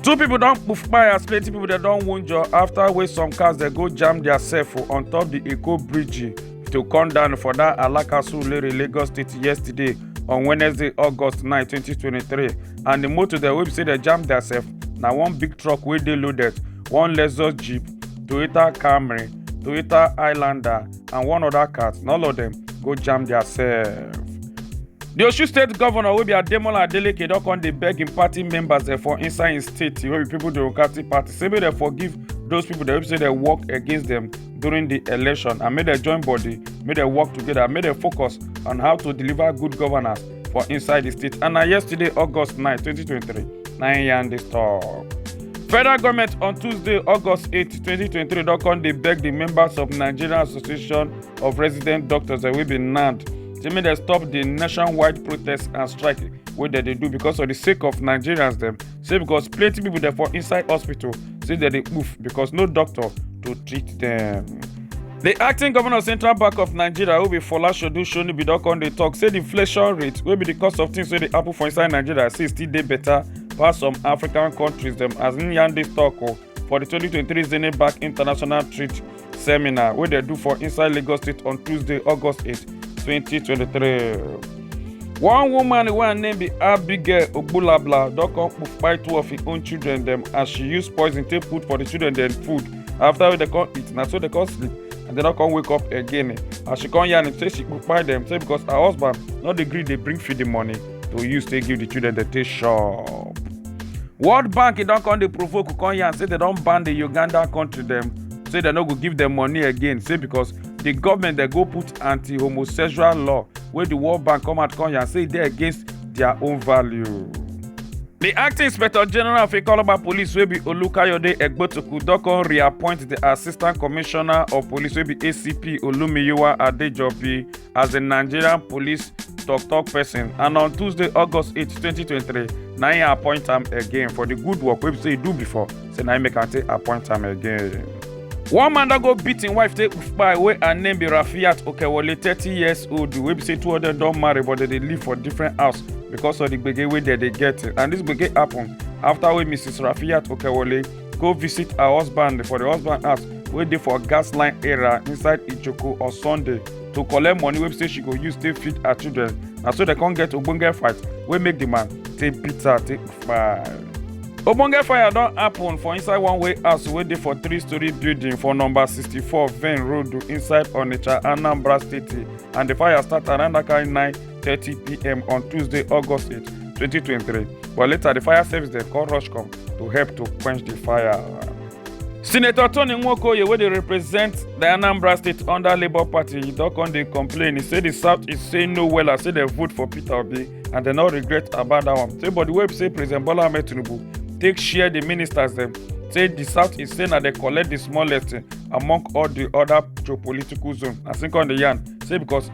two people don poof kpai as plenty people dem don wunjure after wey some cars dey go jam their sef on top the eko bridge to come down for that alakasu lere lagos state yesterday on wednesday august 9 2023 and the motor dem wey be say dem jam their sef na one big truck wey dey loaded one lexus jeep toyota camry toyota highlander and one other cat and all of them go jam their self. The Osun State Governor wey be Ademola Adeleke don come dey beg im party members dem for inside im state wey be People Democratic Party say make dem forgive those people dem wey be say dem work against dem during the election and make dem join body make dem work together make dem focus on how to deliver good governance for inside di state and na yesterday august 9 2023 na im yarn dis tok federal goment on tuesday august 8 2023 don come dey beg di members of nigeria association of resident doctors wey be nand say make dem stop di nationwide protest and strike wey dem dey do because of di sake of nigerians dem say because plenty people dey for inside hospital say dem dey poof because no doctor to treat dem. di acting governor central bank of nigeria wey be fola shodu shonibi don come dey tok say di inflation rate wey be di cost of things wey dey happen for inside nigeria say still dey better pass some african countries dem as im yarn dis tok o for di 2023 zenith bank international trade seminar wey dem do for inside lagos state on tuesday august 8 2023 one woman wey her name be abigail ogbulabla don come kpai two of im own children dem as she use poison take put for di children dem food after wey dem come eat na so dem come sleep and dem no come wake up again as she come yarn say she kpai dem say because her husband no dey gree dey bring feed di money to use take give the children dem take shop world bank e don come dey provoke u come yarn say dem don ban the uganda country dem say dem no go give dem money again say because the government dey go put anti-homosexual law wey the world bank come out come yarn say e dey against their own value. The acting inspector general of Ikoloba police wey be Olukayode Egbotoku don come reappoint the assistant commissioner of police wey be ACP Olumiyiwa Adejobi as di nigerian police tok-tok pesin and on tuesday august 8 2023 na im appoint am again for di good work wey be say e do before say na im make am take appoint am again. one man don go beat im wife take kpai wey her name be rafiat okewole thirty years old wey be say two of dem don marry but dem dey live for different house because of the gbege wey dem dey get and this gbege happen after wey mrs rafiat okewole go visit her husband for the husband house wey dey for gas line area inside ijoko on sunday to collect money wey be say she go use take feed her children na so dem come get ogbonge fight wey make the man take beat her take fire. ogbonge fire don happen for inside one way house wey dey for three story building for number sixty-four vane road inside onitsha anambra state and the fire start around that kind nine thirty pm on tuesday august eight twenty twenty three but later the fire service dem come rush come to help to quench the fire. senator tony nwokoye wey dey represent di anambra state under labour party e don come dey complain e say di south is saying no wella say dem vote for peter obi and dem no regret about dat one say but di way be say president bola ahmed tinubu take share di ministers dem say di south is say na dem collect di smallest among all di oda geopolitical zone as im come dey yarn say because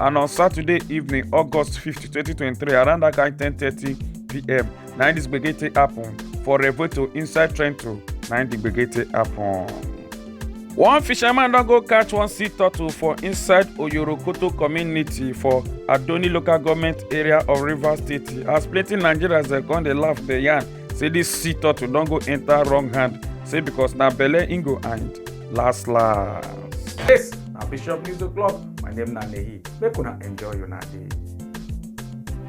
and on saturday evening august 5 2023 around that kind 10:30 pm na im dis gbege take happen for revuelto inside trento na im di gbege take happen. one fisherman don go catch one sea turtle for inside oyorokoto community for adoni local government area of rivers state as plenty nigerians dey come dey laugh dey yarn say dis sea turtle don go enter wrong hand say because na belle im go hide. last last. Yes, na Bishop News O'Clock. My name na Nehi. Make una enjoy una day.